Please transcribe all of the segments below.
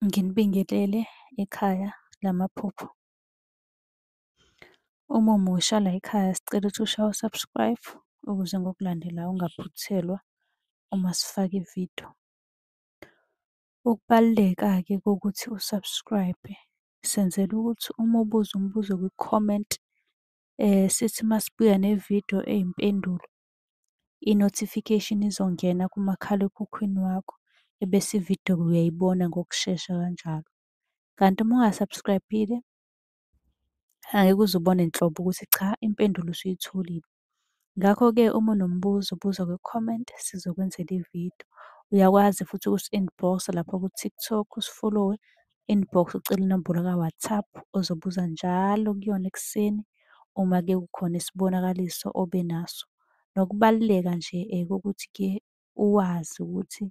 Nginibingelele ekhaya lamaphupho. Uma umusha la ekhaya sicela ukuthi ushaye u-subscribe ukuze ngokulandelayo ungaphuthelwa uma sifaka ividiyo. Ukubaluleka-ke kokuthi u-subscribe senzela ukuthi uma ubuza umbuzo kwi-comment sithi masibuya nevidiyo eyimpendulo i-notification izongena kumakhalekhukhwini wakho ebese ividiyo uyayibona ngokushesha kanjalo. Kanti uma unga-subscribe-ile angeke uze ubone nhlobo ukuthi cha impendulo usuyitholile. Ngakho-ke uma unombuzo buza kwi-comment sizokwenzela ividiyo. Uyakwazi futhi ukusi-inbox-a lapha ku-TikTok usifolowe inbox ucele inombolo ka-WhatsApp ozobuza njalo kuyona ekuseni uma ke kukhona isibonakaliso obe naso. Nokubaluleka nje kokuthi ke uwazi ukuthi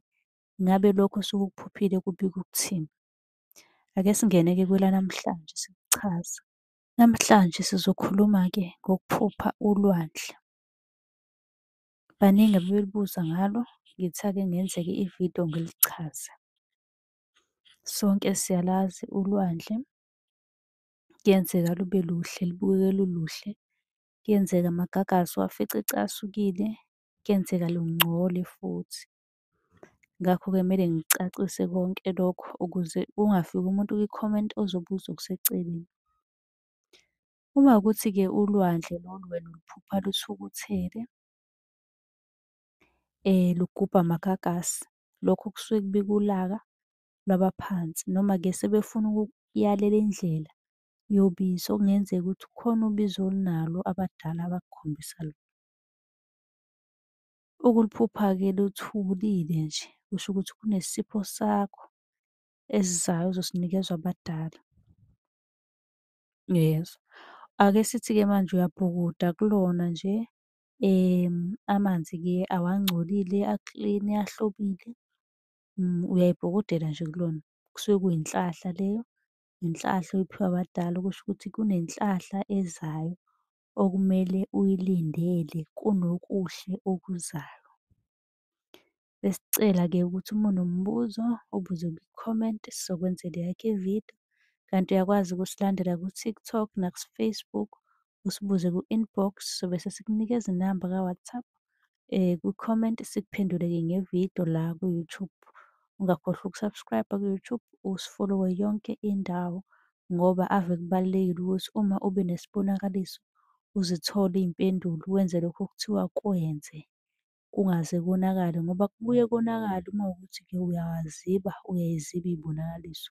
ngabe lokho osuke ukuphuphile kubika ukuthini. Ake singene-ke kwelanamhlanje sikuchaza. Namhlanje sizokhuluma-ke ngokuphupha ulwandle. Baningi abebelibuza ngalo, ngithe ake ngenzeke ividiyo ngilichaze. Sonke siyalazi ulwandle, kuyenzeka lube luhle lubukeke luluhle, kuyenzeka amagagasi uwafice ecasukile, kuyenzeka lungcole futhi. Ngakho-ke kumele ngicacise konke lokho ukuze kungafiki umuntu kwi-comment ozobuza okuseceleni. Uma kuwukuthi-ke ulwandle lolu wena uluphupha luthukuthele, lugubha amagagasi, lokho kusuke kubika ulaka lwabaphansi noma-ke sebefuna ukukuyalela indlela yobisi okungenzeka ukuthi kukhona ubisi olunalo abadala abakukhombisa lona. Ukuliphupha-ke luthulile nje kusho ukuthi kunesipho sakho esizayo ozosinikezwa abadala. Uyezwa? Ake sithi-ke manje uyabhukuda kulona nje amanzi-ke awangcolile a-clean ahlobile. Uyayibhokotela nje kulona. Kusuke kuyinhlahla leyo, inhlahla oyiphiwa abadala okusho ukuthi kunenhlahla ezayo okumele uyilindele kunokuhle okuzayo. Besicela ke ukuthi uma unombuzo ubuze kwi-comment sizokwenzela yakhe ividiyo. Kanti uyakwazi ukusilandela ku-TikTok naku-Facebook usibuze ku-inbox sobe sesikunika izinamba ka-WhatsApp eh ku-comment sikuphenduleke ngevidiyo la ku-YouTube. Ungakhohlwa uku-subscribe ku-YouTube usifollowe yonke indawo ngoba ave kubalulekile ukuthi uma ube nesibonakaliso uzithole iy'mpendulo wenze lokho okuthiwa kwenze. kungaze konakale ngoba kubuye konakale uma kuwukuthi-ke uyawaziba, uyayiziba iy'bonakaliso.